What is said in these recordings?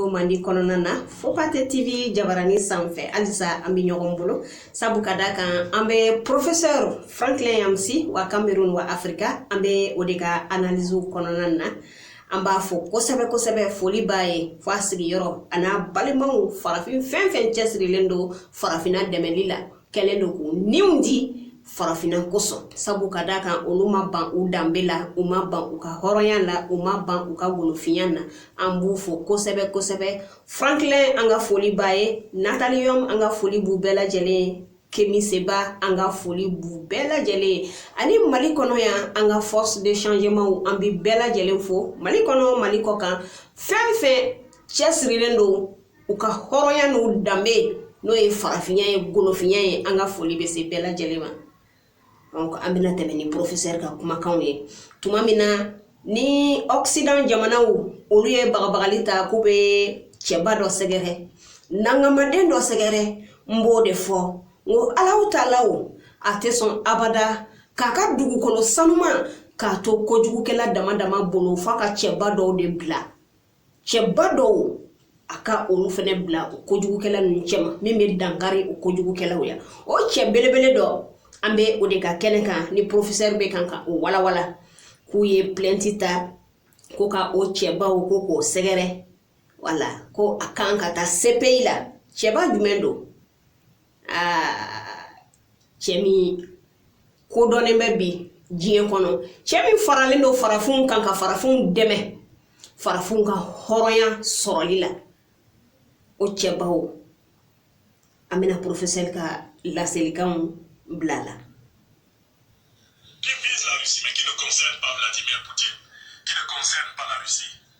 ko mandi kɔnɔna na FOPATE TV jabaranin sanfɛ halisa an bɛ ɲɔgɔn bolo sabu ka da kan an bɛ porofesɛri Franklin Nyamsi wa Kamerun wa Afirika an bɛ o de ka analiziw kɔnɔna na an b'a fo kosɛbɛ kosɛbɛ foli b'a ye fo a sigiyɔrɔ ani a balimaw farafin fɛn fɛn cɛsirilen don farafinna dɛmɛli la kɛlen don k'u niw di farafinna kosɔn sabu ka d'a kan olu ma ban u danbe la u ma ban u ka hɔrɔnya la u ma ban u ka golofinya na an b'u fo kosɛbɛ kosɛbɛ Franklin an ka foli b'a ye Nathalie Yamb an ka foli b'u bɛɛ lajɛlen ye Kemi Seba an ka foli b'u bɛɛ lajɛlen ye ani mali kɔnɔ yan an ka force de changement an bɛ bɛɛ lajɛlen fo mali kɔnɔ mali kɔkan fɛn fɛn cɛsirilen don u ka hɔrɔnya n'u danbe n'o ye farafinya ye golofinya ye an ka foli bɛ se bɛɛ lajɛlen ma an bɛna tɛmɛ ni porofesɛri ka kumakanw ye tuma min na ni ɔkisidan jamanaw olu ye bagabagali ta k'u bɛ cɛba dɔ sɛgɛrɛ nankamaden dɔ sɛgɛrɛ n b'o de fɔ n ko Alahu Taala o a tɛ sɔn abada k'a ka dugukolo sanuman k'a to kojugukɛla dama dama bolo f'a ka cɛba dɔw de bila cɛba dɔw a ka olu fɛnɛ bila o kojugukɛla ninnu cɛma min bɛ dankari o kojugukɛlaw ya o cɛ belebele dɔ an bɛ o de ka kɛnɛ kan ni porofesɛri bɛ kan ka o walawala k'u ye plɛnti ta ko ka o cɛbaw ko k'o sɛgɛrɛ wala ko a kan ka taa sepeyi la cɛba jumɛn don aa cɛ min kodɔnnen bɛ bi diɲɛ kɔnɔ cɛ min faralen don farafinw kan ka farafinw dɛmɛ farafinw ka hɔrɔnya sɔrɔli la o cɛbaw an bɛna porofesɛri ka laselikanw bila la qui vise la Russie mais qui ne concerne pas Vladimir Poutine, qui ne concerne pas la Russie.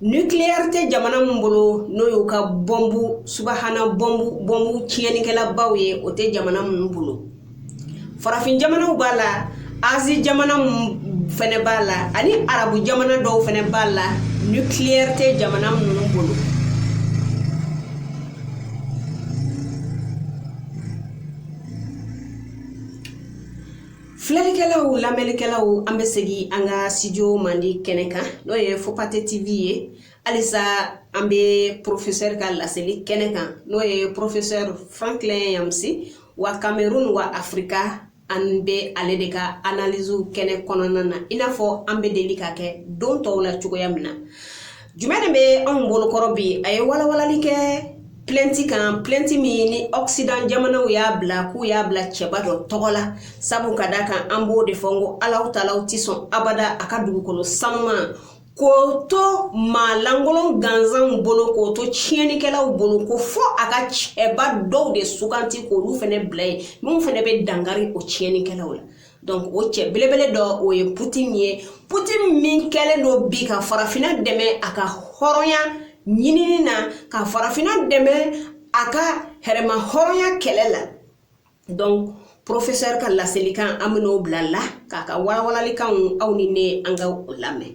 Nucléaire tɛ jamana min bolo n'o y'u ka bɔmbu subahana bɔmbu bɔmbu tiɲɛnikɛlabaw ye o tɛ jamana minnu bolo farafin jamanaw b'a la Asie jamana minnu fɛnɛ b'a la ani arabu jamana dɔw fɛnɛ b'a la nucléaire tɛ jamana minnu bolo Filɛlikɛlaw lamɛnnikɛlaw an bɛ segin an ka studio mandi kɛnɛ kan n'o ye FOPATE TV ye halisa an bɛ professeur ka laseli kɛnɛ kan n'o ye professeur Franklin Nyamsi wa Cameroun wa Afrika an bɛ ale de ka analyses kɛnɛ kɔnɔna na i n'a fɔ an bɛ deli k'a kɛ don tɔw la cogoya min na. Jumɛn de bɛ anw bolokɔrɔ bi a ye walawalali kɛ plainte kan plainte min ni Occident jamanaw y'a bila k'u y'a bila cɛba dɔ tɔgɔ la sabu ka d'a kan an b'o de fɔ ko Alahu Taala tɛ sɔn abada a ka dugukolo sanuma k'o to maa lankolon gansanw bolo k'o to tiɲɛnikɛlaw bolo ko fɔ a ka cɛba dɔw de suganti k'olu fɛnɛ bila yen minnu fɛnɛ bɛ dankari o tiɲɛnikɛlaw la donc o cɛ belebele dɔ o ye putin ye putin min kɛlen don bi ka farafina dɛmɛ a ka hɔrɔnya ɲinini na ka farafina dɛmɛ a ka yɛrɛmahɔrɔnya kɛlɛ la donc professeur ka laselikan an bɛn'o bila la k'a ka walawalalikanw aw ni ne an ka o lamɛn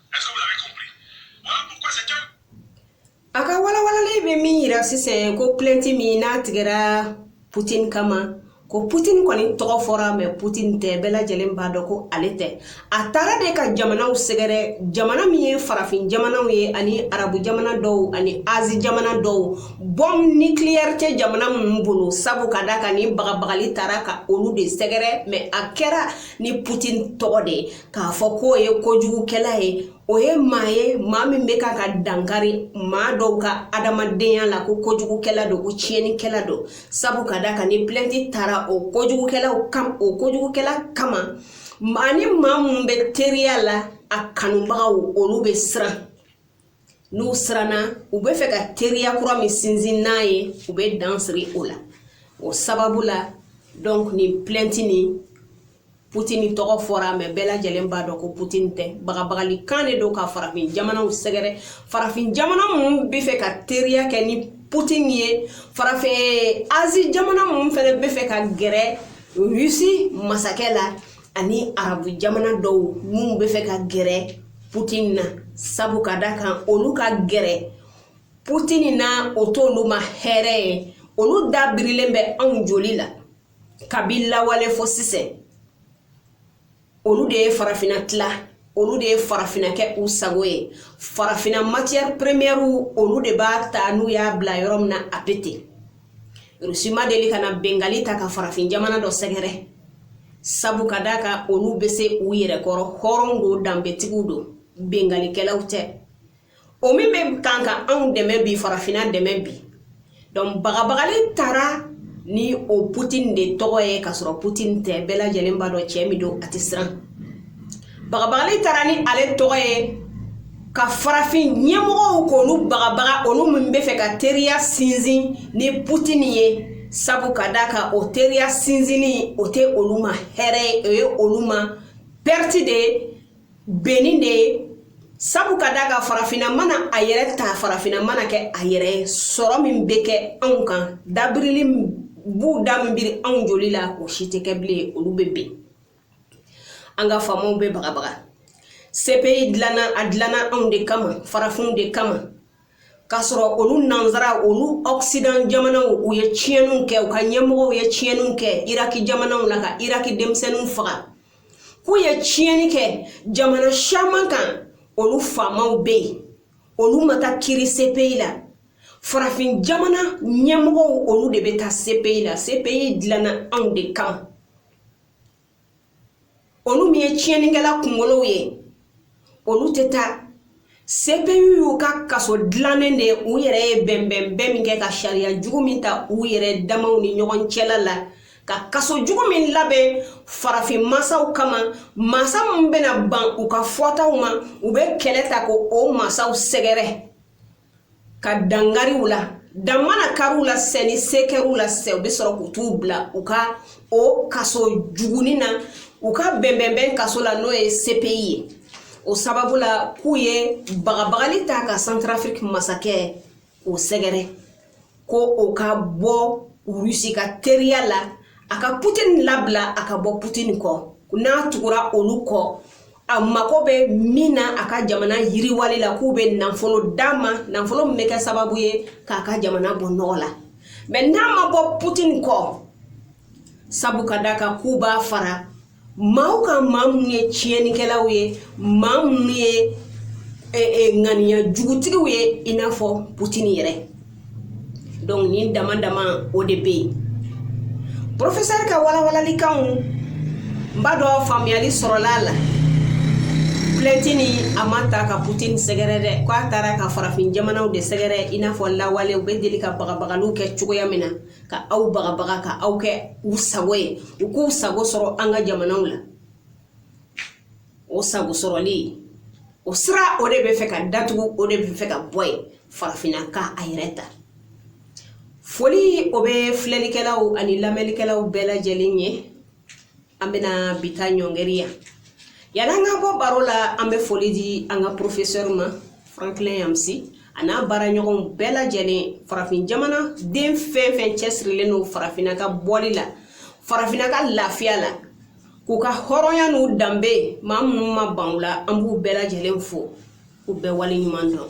A ka walawalali bɛ min yira sisan ko plainte min n'a tigɛra putin kama ko putin kɔni tɔgɔ fɔra mais putin tɛ bɛɛ lajɛlen b'a dɔn ko ale tɛ a taara de ka jamanaw sɛgɛrɛ jamana min ye farafin jamanaw ye ani arabu jamana dɔw ani Asie jamana dɔw bombe nucléaire tɛ jamana minnu bolo sabu ka da kan nin bagabagali taara ka olu de sɛgɛrɛ mais a kɛra ni putin tɔgɔ de ye k'a fɔ k'o ye kojugukɛla ye o ye maa ye maa min bɛ ka ka dankari maa dɔw ka adamadenya la ko kojugukɛla don ko tiɲɛnikɛla don sabu ka da kan ni plainte taara o kojugukɛla kama maa ni maa minnu bɛ teriya la a kanubagaw olu bɛ siran n'u siranna u bɛ fɛ ka teriya kura min sinsin n'a ye u bɛ dan siri o la o sababu la donc nin plainte nin Poutine tɔgɔ fɔra mais bɛɛ lajɛlen b'a dɔn ko Poutine tɛ bagabagali kan de don ka farafin jamanaw sɛgɛrɛ farafin jamana minnu bɛ fɛ ka teriya kɛ ni Poutine ye farafin Asie jamana minnu fɛnɛ bɛ fɛ ka gɛrɛ Russie masakɛ la ani arabu jamana dɔw minnu bɛ fɛ ka gɛrɛ putin na sabu ka da kan olu ka gɛrɛ putin na o t'olu ma hɛrɛ ye olu da birilen bɛ anw joli la kabi lawale fo sisan olu de ye farafina tila olu de ye farafina kɛ u sago ye farafina matière premièrew olu de b'a ta n'u y'a bila yɔrɔ min na a bɛ ten Russie ma deli ka na binkanni ta ka farafin jamana dɔ sɛgɛrɛ sabu ka d'a kan olu bɛ se u yɛrɛ kɔrɔ hɔrɔn don danbetigiw don binkannikɛlaw tɛ o min bɛ kan ka anw dɛmɛ bi farafina dɛmɛ bi donc bagabagali taara ni o putin de tɔgɔ ye ka sɔrɔ putin tɛ bɛɛ lajɛlen b'a dɔn cɛ min don a tɛ siran bagabagali taara ni ale tɔgɔ ye ka farafin ɲɛmɔgɔw k'olu bagabaga olu min bɛ fɛ ka teriya sinsin ni putini ye sabu ka da kan o teriya sinsinni o tɛ olu ma hɛrɛ ye o ye olu ma perte de ye benni de ye sabu ka da kan farafinna mana a yɛrɛ ta farafinna mana kɛ a yɛrɛ ye sɔrɔ min bɛ kɛ anw kan dabirili b'u da min biri anw joli la o si tɛ kɛ bilen olu bɛ ben an ka faamaw bɛ bagabaga CPI dilanna a dilanna anw de kama farafinw de kama k'a sɔrɔ olu nansara olu occident jamanaw u ye tiɲɛniw kɛ u ka ɲɛmɔgɔw ye tiɲɛniw kɛ iraki jamanaw la ka iraki denmisɛnninw faga k'u ye tiɲɛni kɛ jamana caman kan olu faamaw bɛ yen olu ma taa kiri CPI la farafin jamana ɲɛmɔgɔw olu de bɛ taa CPI la CPI dilanna anw de kama olu min ye tiɲɛnikɛla kunkolow ye olu tɛ taa CPI y'u ka kaso dilannen de u yɛrɛ ye bɛnbɛnbɛn min kɛ ka sariya jugu min ta u yɛrɛ damaw ni ɲɔgɔn cɛla la ka kaso jugu min labɛn farafin masaw kama masa min bɛna ban u ka fɔtaw ma u bɛ kɛlɛ ta ko o masaw sɛgɛrɛ ka dan kari u la dan mana kari u la sisan ni se kɛr'u la sisan u bɛ sɔrɔ k'u t'u bila u ka o kaso jugunin na u ka bɛnbɛnbɛn kaso la n'o ye CPI ye o sababu la k'u ye bagabagali ta ka santarafiriki masakɛ k'o sɛgɛrɛ ko o ka bɔ rusi ka teriya la a ka putini labila a ka bɔ putini kɔ n'a tugura olu kɔ a mako bɛ min na a ka jamana yiriwali la k'u bɛ nafolo d'a ma nafolo min bɛ kɛ sababu ye k'a ka jamana bɔ nɔgɔ la mais n'a ma bɔ putini kɔ sabu ka da kan k'u b'a fara maaw kan maa minnu ye tiɲɛnikɛlaw ye maa minnu ye e, e, ŋaniya jugutigiw ye i n'a fɔ putini yɛrɛ donc nin dama dama o de bɛ yen professeur ka walawalalikanw n b'a dɔn faamuyali sɔrɔla a la plainte nin a ma taa ka putini sɛgɛrɛ dɛ k'a taara ka farafin jamanaw de sɛgɛrɛ i n'a fɔ lawale u bɛ deli ka bagabagaliw kɛ cogoya min na ka aw bagabaga ka aw kɛ u sago ye u k'u sago sɔrɔ an ka jamanaw la o sago sɔrɔli o sira o de bɛ fɛ ka datugu o de bɛ fɛ ka bɔ yen farafinna ka a yɛrɛ ta foli o bɛ filɛlikɛlaw ani lamɛnlikɛlaw bɛɛ lajɛlen ye an bɛna bi ta ɲɔngɛri yan yanni an ka bɔ baro la an bɛ foli di an ka porofesɛri ma franklin nyamsi a n'a baaraɲɔgɔnw bɛɛ lajɛlen farafin jamana den fɛn fɛn cɛsirilen don farafinna ka bɔli la farafinna ka lafiya la k'u ka hɔrɔnya n'u danbe maa minnu ma ban u la an b'u bɛɛ lajɛlen fo u bɛɛ wale ɲuman dɔn